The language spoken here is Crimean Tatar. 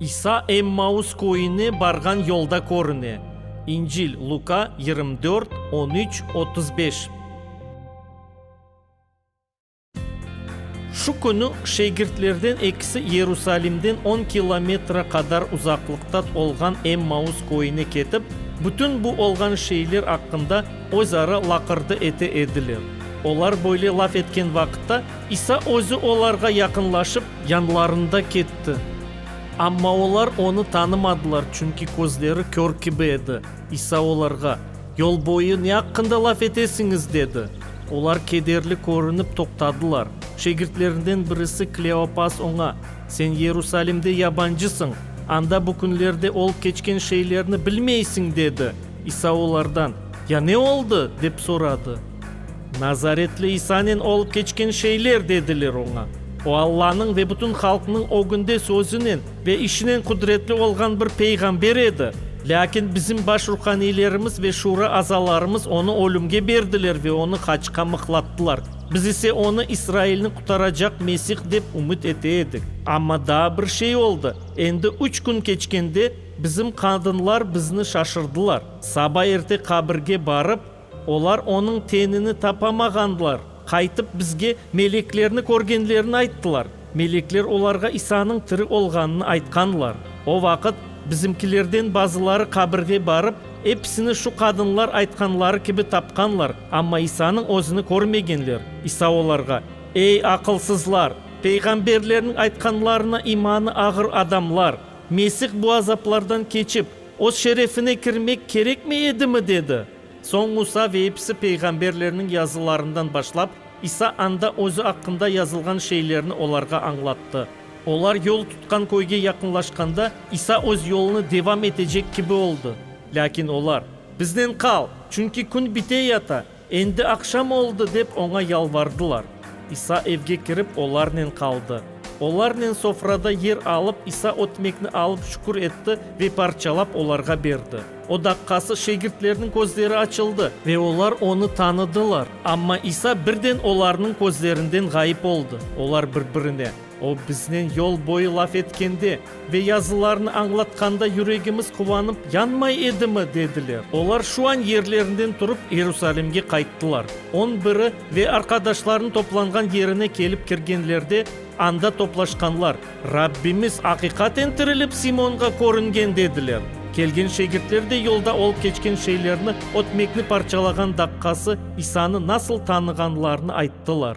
İsa Emmaus köyüne barğan yolda körüne. İncil, Luka, yirmi dört, on üç, otuz beş. Şu künü şegirtlerden ekisi Yerusalimden on kilometre qadar uzaqlıqta olğan Emmaus köyüne ketip, bütün bu olğan şeyler aqqında Özara laqırdı ete ediler. Olar böyle laf etken vaqıtta, İsa özü olarğa yaqınlaşıp, yanlarında ketti. Amma olar onı tanımadılar, çünki közleri kör kibi edi. İsa olarğa, Yol boyu ne aqqında laf etesiñiz? dedi. Olar kederli körünip toqtadılar. Şegirtlerinden birisi Kleopas oña, Sen Yerusalimde yabancısıñ, anda bu künlerde olıp keçken şeylerni bilmeysiñ, dedi. İsa olardan, Ya ne oldı? dep soradı. Nazaretli İsanen olıp keçken şeyler, dediler oña. O Allanıñ ve bütün halqnıñ ögünde sözünen ve işinen qudretli olğan bir peyğamber edi. Lâkin bizim baş ruhaniylerimiz ve şura azalarımız onı ölümge berdiler ve onı haçqa mıqlattılar. Biz ise onı İsrailni qutaracaq Mesih dep ümüt ete edik. Amma daa bir şey oldı, endi üç kün keçkende, Bizim qadınlar bizni şaşırdılar. Saba erte qabirge barıp, olar onıñ tenini tapamağanlar. Qaytıp bizge meleklerni körgenlerini ayttılar. Melekler olarğa İsanıñ tiri olğanını aytqanlar. O vaqıt bizimkilerden bazıları qabirge barıp, episini şu qadınlar aytqanları kibi tapqanlar, amma İsanıñ özüni körmegenler. İsa olarğa, Ey, aqılsızlar! Peyğamberlerniñ aytqanlarına imanı ağır adamlar! Mesih bu azaplardan keçip, öz şerefine kirmek kerekmi edimi? dedi. Soñ Musa ve episi peyğamberlerniñ yazılarından başlap, İsa anda özü aqqında yazılğan şeylerni olarğa añlattı. Olar yol tutqan köyge yaqınlaşqanda, İsa öz yolunı devam etecek kibi oldı. Lâkin olar, Biznen qal, çünki kün bite yata! Endi aqşam oldı, dep oña yalvardılar. İsa evge kirip, olarnen qaldı. Olarnen sofrada yer alıp, İsa ötmekni alıp şükür etti ve parçalap olarğa berdi. O daqqası şegirtlerniñ közleri açıldı ve olar onı tanıdılar. Amma İsa birden olarnıñ közlerinden ğayıp oldı. Olar bir-birine. O biznen yol boyu laf etkende ve yazılarını añlatqanda yüregimiz quvanıp yanmay edimi? dediler. Olar şu an yerlerinden turıp İerusalimge qayttılar. On biri ve arqadaşlarını toplanğan yerine kelip kirgenlerde, anda toplaşqanlar, Rabbimiz aqiqaten tirilip Simonğa körüngen, dediler. Kelgen şegirtler de yolda olıp keçken şeylerni, ötmekni parçalağan daqqası, İsanı nasıl tanığanlarını ayttılar.